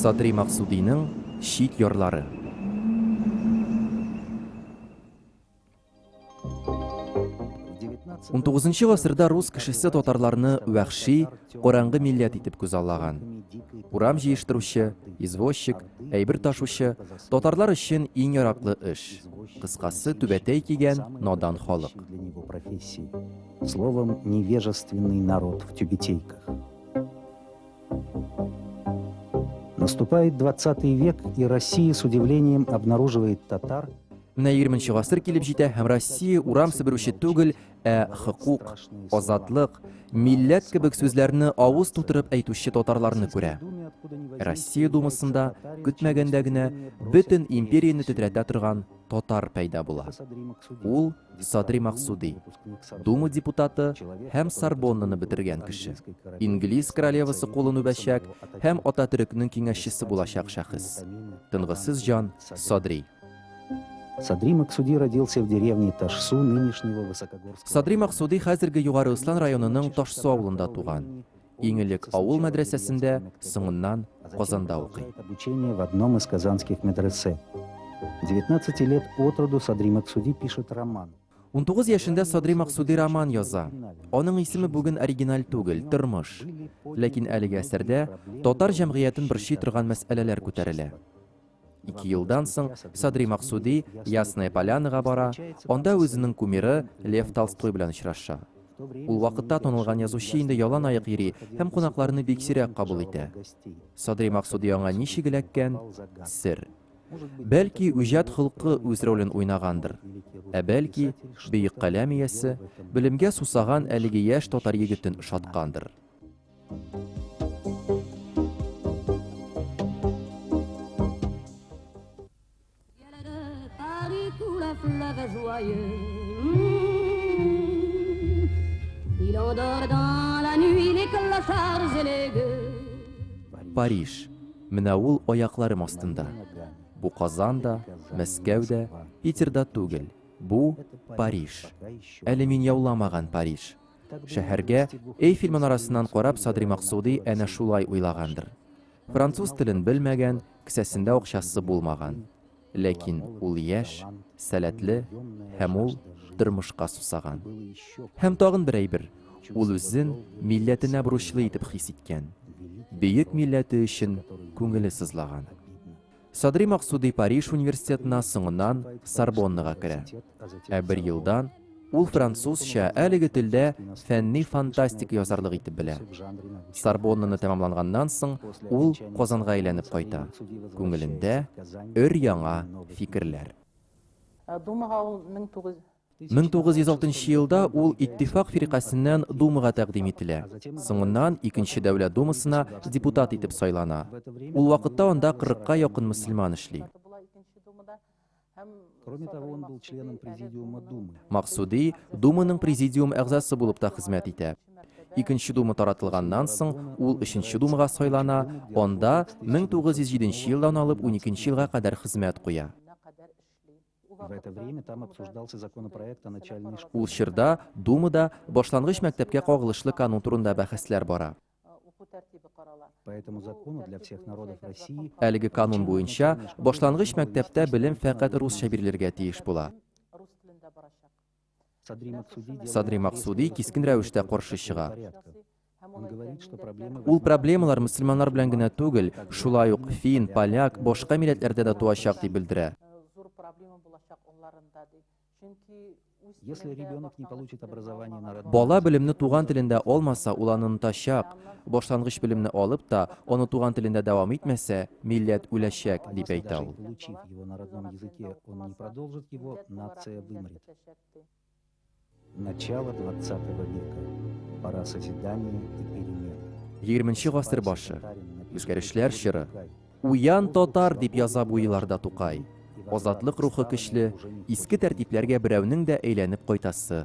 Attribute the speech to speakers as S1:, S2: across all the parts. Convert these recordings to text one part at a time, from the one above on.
S1: Садри Максудиның чит ярлары. Унтугызынчы гасырда рус кешесе татарларны вәхши, караңгы милләт итеп күзаллаган. Урам җыештыручы, извозчик, әйбер ташучы, татарлар өчен иң яраклы эш. Кыскасы, түбәтәй кигән, надан халык. Словом,
S2: невежественный народ в тюбетейках. Наступает 20 век, и Россия с удивлением обнаруживает татар, Менә 20 нче
S1: гасыр килеп җитә һәм Россия урам себерүче түгел, Ә хокук, азатлык, милләт кебек сүзләрне авыз тутырып әйтүче татарларны күрә. Россия Думасында көтмәгәндә генә бөтен империяне тетрәтә торган татар пәйда була. Ул Садри Максуди, Дума депутаты һәм Сорбоннаны бетергән кеше. Инглиз королевасы кулын үбәчәк һәм Ататөрекнең киңәшчесе булачак шәхес. Тынгысыз җан Садри.
S2: Садри Максуди родился в деревне Ташсу нынешнего Высокогорска. Садри Максуди хәзерге
S1: Югары Ыслан районының Ташсу авылында туган. Иң элек авыл мәдрәсәсендә, соңыннан Казанда укый. Обучение в одном
S2: из казанских медресе. 19 лет от роду Садри Максуди пишет роман. 19 яшендә
S1: Садри Максуди роман яза. Аның исеме бүген оригиналь түгел, тормыш. Ләкин әлеге әсәрдә татар җәмгыятен борчый торган мәсьәләләр күтәрелә. Ике елдан соң Садри Максуди Ясная Полянага бара, анда үзенең кумиры Лев Толстой белән очраша. Ул вакытта танылган язучы инде ялан аяк йөри һәм кунакларны бик сирәк кабул итә. Садри Максуди аңа ничек эләккән? Сер. Бәлки, үҗәт холкы үз ролен уйнагандыр. Ә бәлки, бөек каләм иясе, белемгә сусаган әлеге яшь татар егетен ошаткандыр. Париж. Менә ул аякларым астында. Бу Казан да, Мәскәү дә, Питер да түгел. Бу Париж. Әле мин яуламаган Париж. Шәһәргә, Эйфель манарасыннан карап Садри Максуди әнә шулай уйлагандыр. Француз телен белмәгән, кесәсендә акчасы булмаган. Ләкин ул яшь, сәләтле һәм ул тормышка сусаган. Һәм тагын бер әйбер, ул үзен милләтенә бурычлы итеп хис иткән. Бөек милләте өчен күңеле сызлаган. Садри Максуди Париж университетына, соңыннан Сорбоннага керә. Ә бер елдан ул французча, әлеге телдә фәнни фантастика язарлык итеп белә. Сорбоннаны тәмамланганнан соң ул Казанга әйләнеп кайта. Күңелендә өр-яңа фикерләр. Думага ул 1900 1906 нчы елда ул Иттифак фиркасеннән Думага тәкъдим ителә. Соңыннан Икенче дәүләт Думасына депутат итеп сайлана. Ул вакытта анда кырыкка якын мөселман эшли.
S2: Максуди
S1: Думаның президиум әгъзасы булып та хезмәт итә. Икенче Дума таратылганнан соң, ул Өченче Думага сайлана, анда 1907 елдан алып 12 елга кадәр хезмәт куя.
S2: В это время там обсуждался законопроект о начальной школе. Ул чорда
S1: Думада башлангыч мәктәпкә кагылышлы канун турында бәхәсләр бара.
S2: Әлеге канун буенча
S1: башлангыч мәктәптә белем фәкать русча бирелергә тиеш була. Садри Максуди кискен рәвештә каршы чыга.
S2: Ул проблемалар
S1: мөселманнар белән генә түгел, шулай ук фин, поляк, башка милләтләрдә дә туачак дип белдерә.
S2: Бала белемне туган телендә
S1: алмаса, ул аны онытачак. Башлангыч белемне алып та, аны туган телендә дәвам итмәсә, милләт үләчәк, дип әйтә ул. Его на родном
S2: языке он не продолжит, его нация вымрет. Начало 20 века. Пора созидания и перемен. 20 гасыр
S1: башы. Үзгәрешләр чоры. Уян татар дип яза бу елларда Тукай. Азатлык рухы көчле, иске тәртипләргә берәүнең дә әйләнеп кайтасы,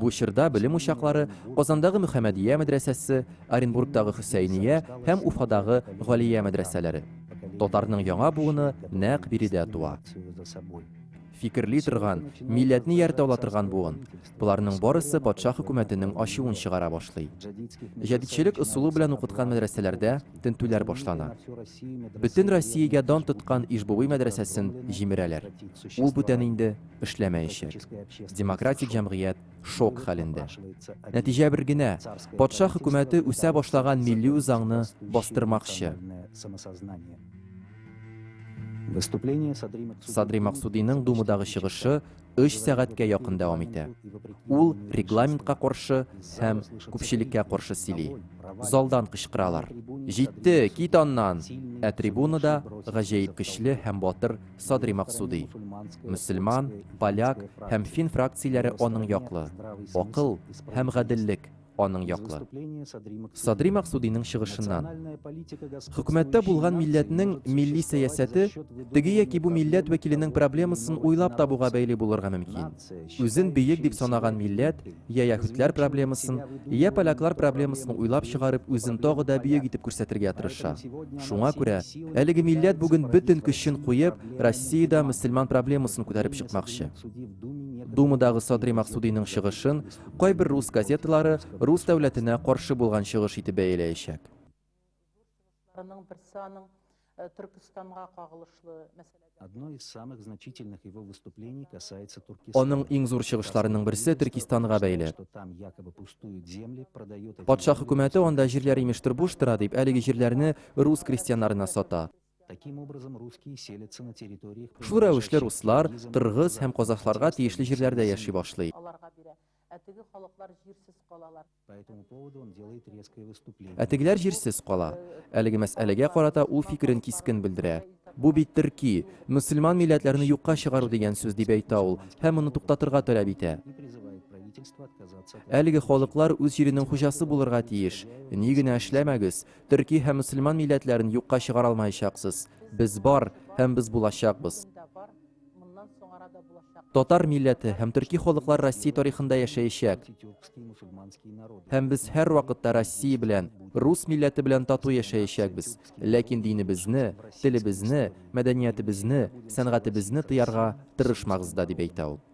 S2: Бу чорда белем
S1: учаклары Казандагы Мөхәммәдия мәдрәсәсе, Оренбургтагы Хөсәйния һәм Уфадагы Галия мәдрәсәләре. Татарның яңа буыны нәкъ биредә туа. фикерли торган, милләтне ияртә ала торган буын, боларның барысы патша хөкүмәтенең ачуын чыгара башлый. Җәдитчелек ысулы белән укыткан мәдрәсәләрдә тентүләр башлана. Бөтен Россиягә дан тоткан Ижбуи мәдрәсәсен җимерәләр. Ул бүтән инде эшләмәячәк. Демократик җәмгыять шок хәлендә. Нәтиҗә бер генә, патша хөкүмәте үсә башлаган милли үзаңны бастырмакчы. Садри Максудиның Думадагы чыгышы 3 сәгатькә якын дәвам итә. Ул регламентка каршы һәм күпчелеккә каршы сөйли. Залдан кычкыралар. Җитте, кит аннан! Ә трибунада гаҗәеп көчле һәм батыр Садри Максуди. Мөселман, поляк һәм фин фракцияләре аның яклы. Акыл һәм гаделлек аның яклы. Садри Максудиның чыгышыннан. Хөкүмәттә булган милләтнең милли сәясәте теге яки бу милләт вәкиленең проблемасын уйлап табуга бәйле булырга мөмкин. Үзен бөек дип санаган милләт я яһүдләр проблемасын, я поляклар проблемасын уйлап чыгарып үзен тагы да бөек итеп күрсәтергә тырыша. Шуңа күрә әлеге милләт бүген бөтен көчен куеп Россиядә мөселман проблемасын күтәреп чыкмакчы. Думадагы Садри Максудиның чыгышын Кайбер рус газеталары рус дәүләтенә каршы булган чыгыш итеп бәяләячәк. Аның берсе аның э,
S2: Төркстанга кагылышлы мәсьәлә Одно из самых значительных его выступлений касается Туркестана. Аның иң зур чыгышларының
S1: берсе Төркистанга бәйле.
S2: Патша хөкүмәте анда
S1: җирләр
S2: имештер
S1: буш тора дип, әлеге җирләрне рус крестьяннарына сата.
S2: Шул рәвешле руслар,
S1: кыргыз һәм казахларга тиешле җирләрдә яши башлый.
S2: Ә тегеләр җирсез
S1: кала. Әлеге мәсьәләгә карата ул фикерен кискен белдерә. Бу бит төрки, мөселман милләтләрне юкка чыгару дигән сүз, дип әйтә ул һәм моны туктатырга таләп итә.
S2: Әлеге халыклар үз
S1: җиренең хуҗасы булырга тиеш. Ни генә эшләмәгез, Төрки һәм мөселман милләтләрен юкка чыгара алмаячаксыз. Без бар һәм без булачакбыз. Татар милләте һәм төрки халыклар Россия тарихында яшәячәк.
S2: Һәм без һәр вакытта
S1: Россия белән, рус милләте белән тату яшәячәкбез. Ләкин динебезне, телебезне, мәдәниятебезне, сәнгатебезне тыярга тырышмагыз да, дип әйтә ул.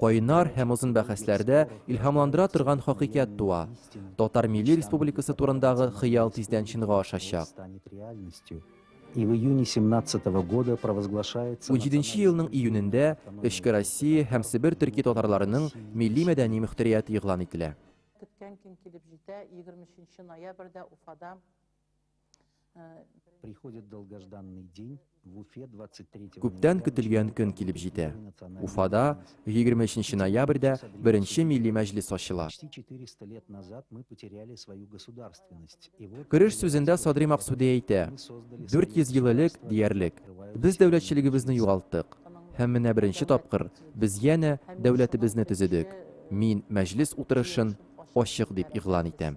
S1: Кайнар һәм озын бәхәсләрдә илһамландыра торган хакыйкать туа. Татар милли республикасы турындагы хыял тиздән чынга ашачак. И в
S2: июне 17 -го года провозглашается... Унҗиденче елның
S1: июнендә Эчке Россия һәм Себер төрки татарларының милли-мәдәни мөхтәрияте игълан ителә. Көткән көн килеп
S3: җитә, егерме өченче ноябрьдә Уфада
S2: Приходит долгожданный день в Уфе 23 Күптән көтелгән
S1: көн килеп җитә. Уфада 23 ноябрьдә беренче милли мәҗлес ачыла. Почти 400 лет
S2: назад мы потеряли свою государственность. И вот Кереш сүзендә Садри
S1: Максуди әйтә, 400
S2: ел элек
S1: диярлек, без дәүләтчелегебезне югалттык. Һәм менә беренче тапкыр без янә дәүләтебезне төзедек. Мин мәҗлес утырышын ачык дип игълан итәм.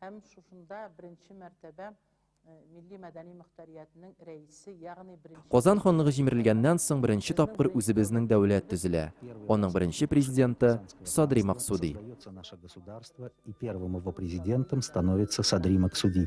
S1: Һәм шушында
S3: беренче мәртәбә милли-мәдәни мөхтәриятнең рәисе, ягъни беренче. Казан ханлыгы җимерелгәннән
S1: соң беренче тапкыр үзебезнең дәүләт төзелә. Аның беренче президенты, Садри Максуди. Создается наше государство,
S2: и первым его президентом становится Садри Максуди.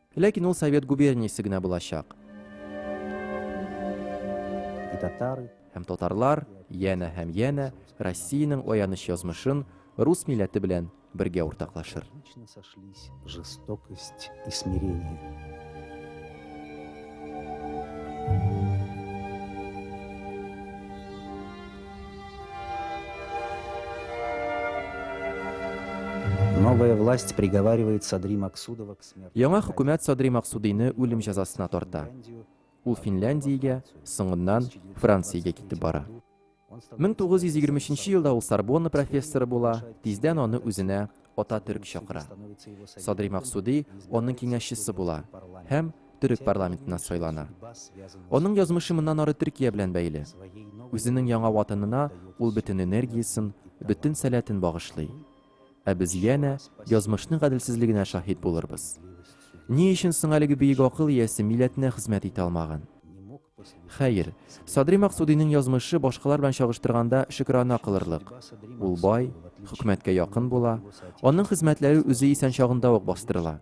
S1: Ләкин ул Совет губерниясе генә булачак.
S2: Һәм татарлар,
S1: янә һәм янә Россиянең аяныч язмышын рус милләте белән бергә уртаклашыр. Новая власть
S2: приговаривает Садри Максудова Яңа хөкүмәт Садри
S1: Максудыйны үлем җәзасына тарта. Ул Финляндиягә, соңыннан Франциягә китеп бара. 1923 елда ул Сорбонна профессоры була, тиздән аны үзенә ата төрек чакыра. Садри Максуди аның киңәшчесе була һәм төрек парламентына сайлана. Аның язмышы моннан ары Төркия белән бәйле. Үзенең яңа ватанына ул бөтен энергиясен, бөтен сәләтен багышлый. Ә без янә язмышның гаделсезлегенә шаһит булырбыз. Ни өчен соң әлеге бөек акыл иясе милләтенә хезмәт итә алмаган? Хәер, Садри Максудиның язмышы башкалар белән чагыштырганда шөкерана кылырлык. Ул бай, хөкүмәткә якын була, аның хезмәтләре үзе исән чагында ук бастырыла.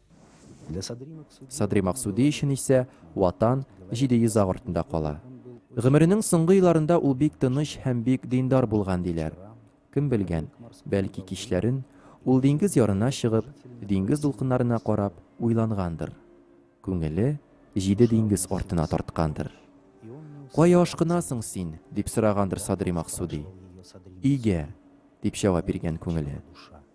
S2: Садри Максуди өчен
S1: исә Ватан 700 аг артында кала. Гомеренең соңгы елларында ул бик тыныч һәм бик диндар булган диләр. Кем белгән, бәлки кичләрен ул диңгез ярына чыгып, диңгез дулкыннарына карап уйлангандыр. Күңеле җиде диңгез артына тарткандыр. Кая ашкынасың син? дип сорагандыр Садри Максуди. Өйгә, дип җавап биргән күңеле.